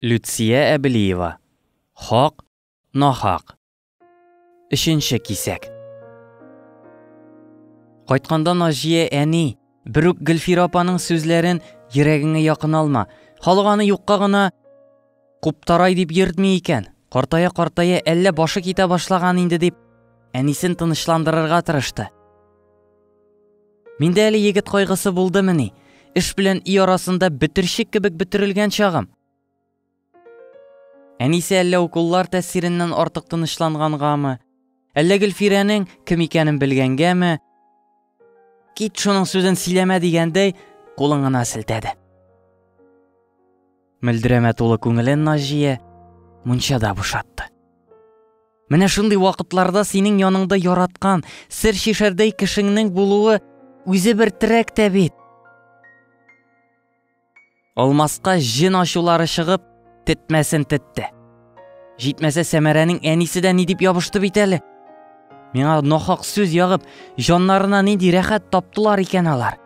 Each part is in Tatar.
Люция Әбелиева, Хак, нахак. Өченче кисәк. Кайтканда Наҗия әни, бер үк Гөлфир апаның сүзләрен йөрәгеңә якын алма. Халык аны юкка гына куптарай дип йөртми икән. Картая-картая әллә башы китә башлаган инде дип, әнисен тынычландырырга тырышты. Миндә әле егет кайгысы булдымыни? Эш белән өй арасында бөтерчек кебек бөтерелгән чагым. Әнисе әллә укуллар тәсиреннән артык тынычлангангамы? Әллә Гөлфирәнең кем икәнен белгәнгәме? Кит шуның сүзен сөйләмә дигәндәй, кулын гына селтәде. Мөлдерәмә тулы күңелен Наҗия мунчада бушатты. Менә шундый вакытларда синең яныңда яраткан, сер шишәрдәй кешеңнең булуы үзе бер терәк тә бит. Алмаска җен ачулары чыгып, тетмәсен тетте. Җитмәсә Сәмәрәнең әнисе дә ни дип ябышты бит әле. Миңа нахак сүз ягып, җаннарына нинди рәхәт таптылар икән алар.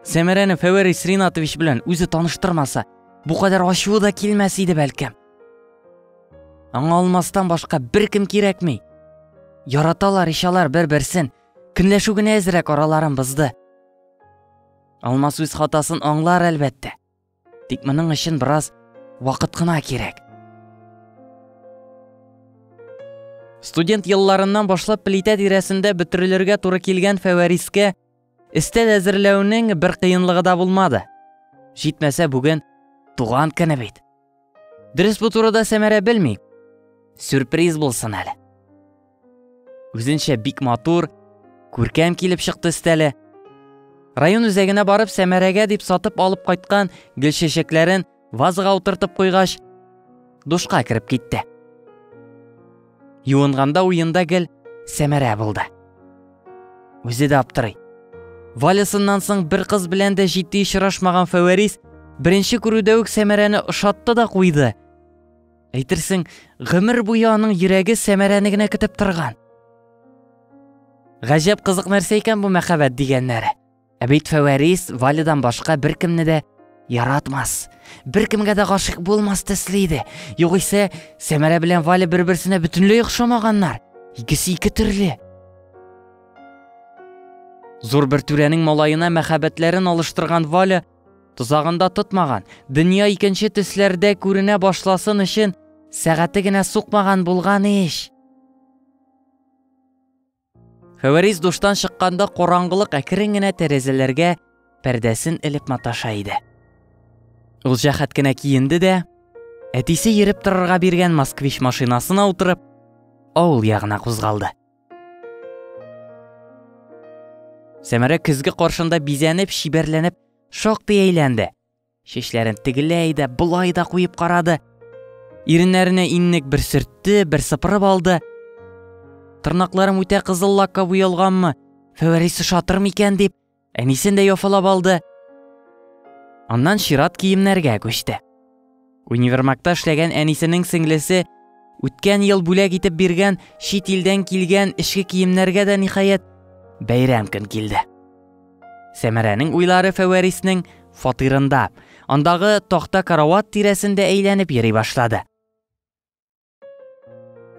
Сәмәрәне Фәвәрис Ринатович белән үзе таныштырмаса, бу кадәр ачуы да килмәс иде бәлкем. Аңа алмастан башка бер кем кирәкми. Яраталар ишалар бер-берсен. Көнләшү генә әзрәк араларын бызды. Алмас үз хатасын аңлар әлбәттә. Тик моның өчен бераз вакыт кына кирәк. Студент елларыннан башлап плитә тирәсендә бөтерелергә туры килгән Фәвәрискә өстәл әзерләүнең бер кыенлыгы да булмады. Җитмәсә бүген туган көне бит. Дөрес бу турыда Сәмәрә белми. Сюрприз булсын әле. Үзенчә бик матур, күркәм килеп чыкты өстәле. Район үзәгенә барып Сәмәрәгә дип сатып алып кайткан гөл чәчәкләрен вазага утыртып куйгач, душка кереп китте. Юынганда уенда гел Сәмәрә булды. Үзе дә аптырый. Валясыннан соң бер кыз белән дә җитди очрашмаган Фәвәрис беренче күрүдә үк Сәмәрәне ошатты да куйды. Әйтерсең, гомер буе аның йөрәге Сәмәрәне генә көтеп торган. Гаҗәп кызык нәрсә икән бу мәхәббәт дигәннәре. Ә бит Фәвәрис Валидан башка беркемне дә яратмас. Беркемгә дә гашык булмас төсле иде. Югыйсә, Сәмәрә белән Валя бер-берсенә бөтенләй охшамаганнар. Икесе ике төрле. Зур бер түрәнең малаена мәхәббәтләрен алыштырган Валя тозагында тотмаган, дөнья икенче төсләрдә күренә башласын өчен сәгате генә сукмаган булган ич. Хәвәрис душтан чыкканда караңгылык әкрен генә тәрәзәләргә пәрдәсен элеп маташа иде. Ул җәһәт кенә киенде дә, әтисе йөреп торырга биргән москвич машинасына утырып, авыл ягына кузгалды. Сәмәрә көзге каршында бизәнеп, шибәрләнеп, шактый әйләнде. Чәчләрен тегеләй дә, болай да куеп карады. Иреннәренә иннек бер сөртте, бер сыпырып алды. Тырнакларым үтә кызыл лакка буялганмы? Фәвәрис шатыр микән дип, әнисен дә яфалап алды. Аннан чират киемнәргә күчте. Универмагта эшләгән әнисенең сеңлесе үткән ел бүләк итеп биргән чит илдән килгән эчке киемнәргә дә ниһаять бәйрәм көн килде. Сәмәрәнең уйлары Фәвәриснең фатирында, андагы тахта карават тирәсендә әйләнеп йөри башлады.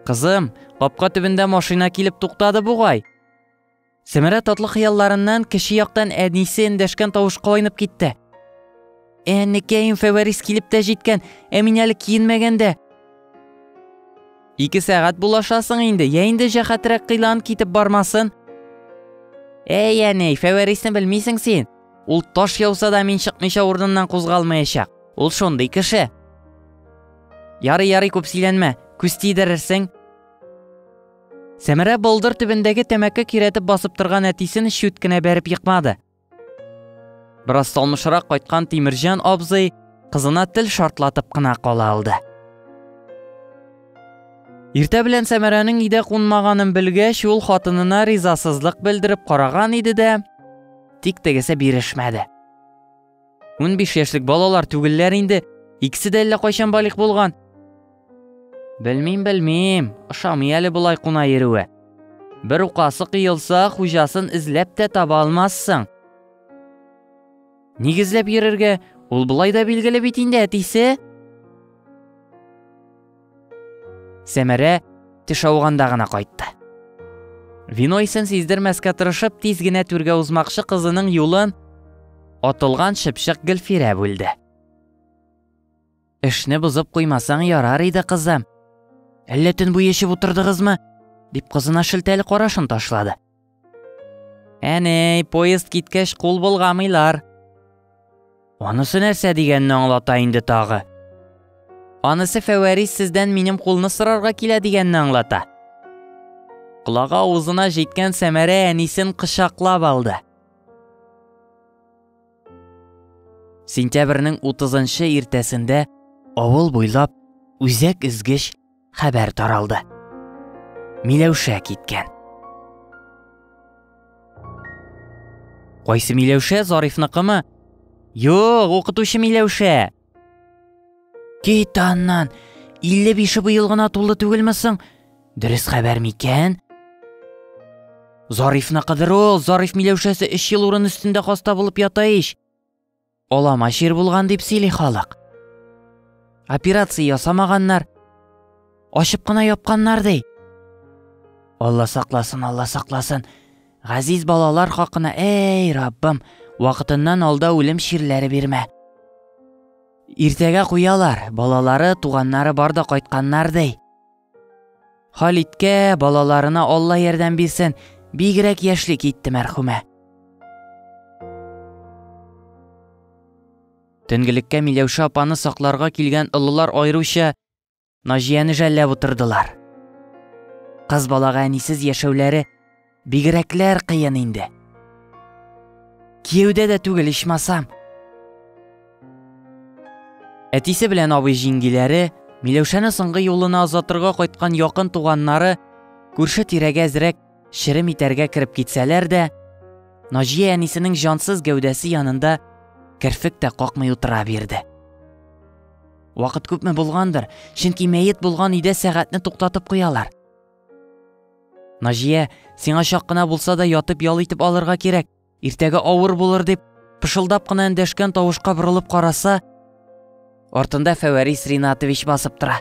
Кызым, капка төбендә машина килеп туктады бугай. Сәмәрә татлы хыялларыннан кече яктан әнисе эндәшкән тавышка айнып китте. Әнекәем Фәвәрис килеп тә җиткән, ә мин әле киенмәгәндә. Ике сәгать булашасың инде, я инде җәхәтрәк кыйлан китеп бармасын. Әй, әней, Фәвәрисне белмисең син. Ул таш яуса да мин чыкмыйча урыныннан кузгалмаячак. Ул шундый кеше. Ярый, ярый, күп сөйләнмә, күз тидерерсең. Сәмәрә болдыр төбендәге тәмәке киретеп басып торган әтисен чүт кенә бәреп екмады. Бераз салмышрак кайткан Тимирҗан абзый кызына тел шартлатып кына кала алды. Иртә белән Сәмәрәнең өйдә кунмаганын белгәч, ул хатынына ризасызлык белдереп караган иде дә, тик тегесе бирешмәде. Унбиш яшьлек балалар түгелләр инде. Икесе дә әллә кайчан балигъ булган. Белмим, белмим. Ошамый әле болай куна йөрүе. Бер укасы кыелса, хуҗасын эзләп тә таба алмассың. Ник эзләп йөрергә? Ул болай да билгеле бит инде әтисе. Сәмәрә теш ауганда гына кайтты. Вино исен сиздермәскә тырышып, тиз генә түргә узмакчы кызының юлын атылган шыпшык Гөлфирә бүлде. Эшне бозып куймасаң ярар иде, кызым. Әллә төн буе эчеп утырдыгызмы? дип кызына шелтәле карашын ташлады. Әнәй, поезд киткәч кул болгамыйлар. Анысы нәрсә дигәнне аңлата инде тагы. Анысы Фәвәрис сездән минем кулны сорарга килә дигәнне аңлата. Колагы авызына җиткән Сәмәрә әнисен кочаклап алды. Сентябрьнең 30-нчы иртәсендә авыл буйлап үзәк эзгеч хәбәр таралды. Миләүшә киткән. Кайсы Миләүшә Зарифныкымы? Юк, укытучы Миләүшә. Кит аннан. 55 быел гына тулы түгелме соң? Дөрес хәбәр микән? Зарифны кыдыру, Зариф Миләүшәсе 3 ел урын өстендә хаста булып ята ич. Олама чир булган дип сөйли халык. Операция ясамаганнар. Ачып кына япканнар ди. Алла сакласын, Алла сакласын. Газиз балалар хакына, эй, Раббым, вакытыннан алда үлем чирләре бирмә. Иртәгә куялар, балалары, туганнары бар да кайтканнар ди. Халиткә, балаларына Алла ярдәм бирсен, бигрәк яшьли китте мәрхүмә. Төнгелеккә Миләүшә апаны сакларга килгән олылар аеруча Наҗияне жәлләп утырдылар. Кыз балага әнисез яшәүләре Бигрәкләр кыен инде. Кияүдә дә түгел ичмасам. Әтисе белән абый җиңгиләре, Миләүшәне соңгы юлына озатырга кайткан якын туганнары күрше тирәгә әзрәк шерем итәргә кереп китсәләр дә, Наҗия әнисенең җансыз гәүдәсе янында керфек тә какмый утыра бирде. Вакыт күпме булгандыр, чөнки мәет булган өйдә сәгатьне туктатып куялар. Наҗия, сиңа чак кына булса да ятып ял итеп алырга кирәк. Иртәгә авыр булыр дип, пышылдап кына эндәшкән тавышка борылып караса, артында Фәвәрис Ринатович басып тора.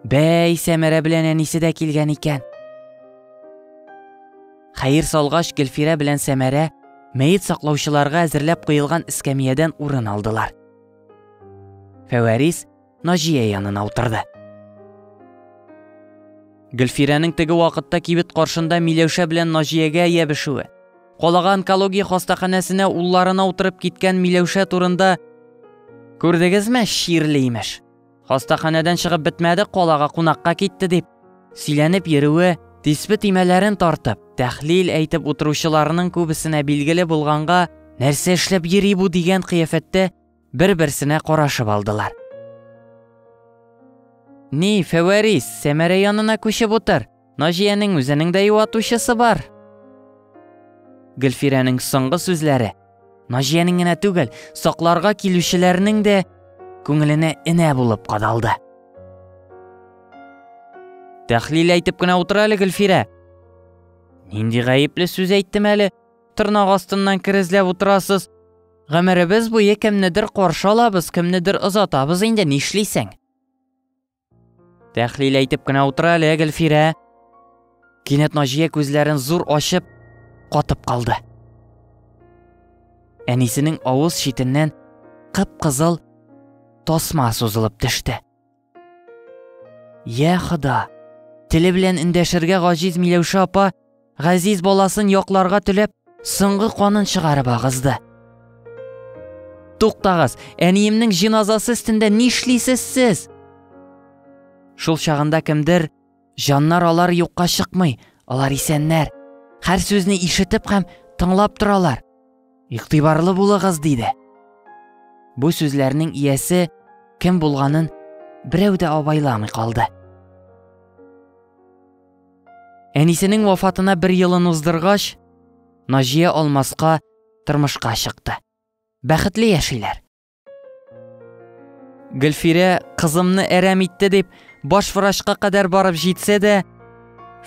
Бәй, Сәмәрә белән әнисе дә килгән икән. Хәер салгач, Гөлфирә белән Сәмәрә мәет саклаучыларга әзерләп куелган эскәмиядән урын алдылар. Фәвәрис Наҗия янына утырды. Гөлфирәнең теге вакытта кибет каршында Миләүшә белән Наҗиягә ябешүе, калага онкология хастаханәсенә улларына утырып киткән Миләүшә турында Күрдегезме, Ширле имеш. Хастаханәдән чыгып бетмәде, калага кунакка китте дип. Сөйләнеп йөрүе, тиспе тимәләрен тартып, тәхлил әйтеп утыручыларның күбесенә билгеле булганга, нәрсә эшләп йөри бу дигән кыяфәттә бер-берсенә карашып алдылар. Ни, Фәвәрис, Сәмәрә янына күчеп утыр. Наҗиянең үзенең дә юатучысы бар. Гөлфирәнең соңгы сүзләре Наҗиянең генә түгел, сакларга килүчеләрнең дә күңеленә энә булып кадалды. Тәхлил әйтеп кенә утыр әле, Гөлфирә. Нинди гаепле сүз әйттем әле? Тырнак астыннан керезләп утырасыз. Гомеребез буе кемнедер каршы алабыз, кемнедер озатабыз инде, нишлисең? Тәхлил әйтеп кенә утыра әле, Гөлфирә. Кинәт Наҗия күзләрен зур ачып, катып калды. Әнисенең авыз читеннән кып-кызыл тасма сузылып төште. Я Хода! Теле белән эндәшергә гаҗиз Миләүшә апа газиз баласын якларга теләп, соңгы канын чыгарып агызды. Туктагыз, әниемнең җиназасы өстендә нишлисез сез? Шул чагында кемдер Җаннар алар юкка чыкмый, алар исәннәр. Хәр сүзне ишетеп һәм тыңлап торалар. Игътибарлы булыгыз, диде. Бу сүзләрнең иясе кем булганын берәү дә абайламый калды. Әнисенең вафатына бер елын уздыргач, Наҗия алмаска тормышка чыкты. Бәхетле яшиләр. гөлфирә кызымны әрәм итте дип баш врачка кадәр барып җитсә дә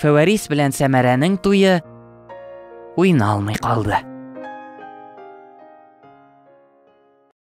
фәвәрис белән сәмәрәнең туе уйналмый калды